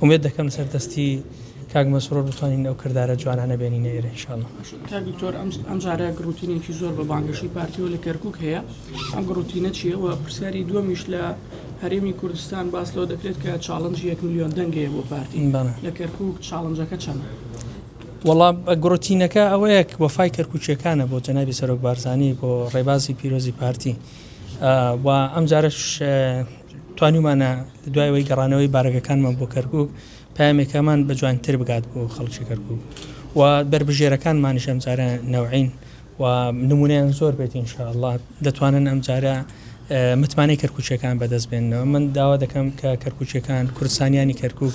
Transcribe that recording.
ئومێد دەکەم لەسەر دەستی کاک مەسرور بتوانین ئەو کردارە جوانانە بێنینە ئێرە ان شاء اللە. کاک دکتۆر ئەم جارە گڕوتینێکی زۆر بە بانگەشەی پارتیەوە لە کەرکوک هەیە ئەم گڕوتینە چیە و پرسیاری دووەمیش لە هەرێمی کوردستان باس لەوە دەکرێت کە چاڵنجی یەک میلیۆن دەنگەیە بۆ پارتی لە کەرکوک چاڵنجەکە چەند وەڵام گڕوتینەکە ئەوەیەک وەفای کەرکوچیەکانە بۆ جەنابی سەرۆک بارزانانی بۆ ڕێبازی پیرۆزی پارتی و ئەم جارش توانیومانە لە دوای ئەوەی گەڕانەوەی بارەگەکانمان بۆ کەرکوک پەیامێکەمان بە جوانتر بگات بۆ خەڵکی کەرکوک و بەربژێرەکانمانیش ئەمجارە نەوعین و نمونەیان زۆر بێت انشاءاللە دەتوانن ئەمجارە متمانەی کەرکوچەکان بەدەست بێنەوە من داوا دەکەم کە کەرکوچەکان کوردستانیانی کەرکک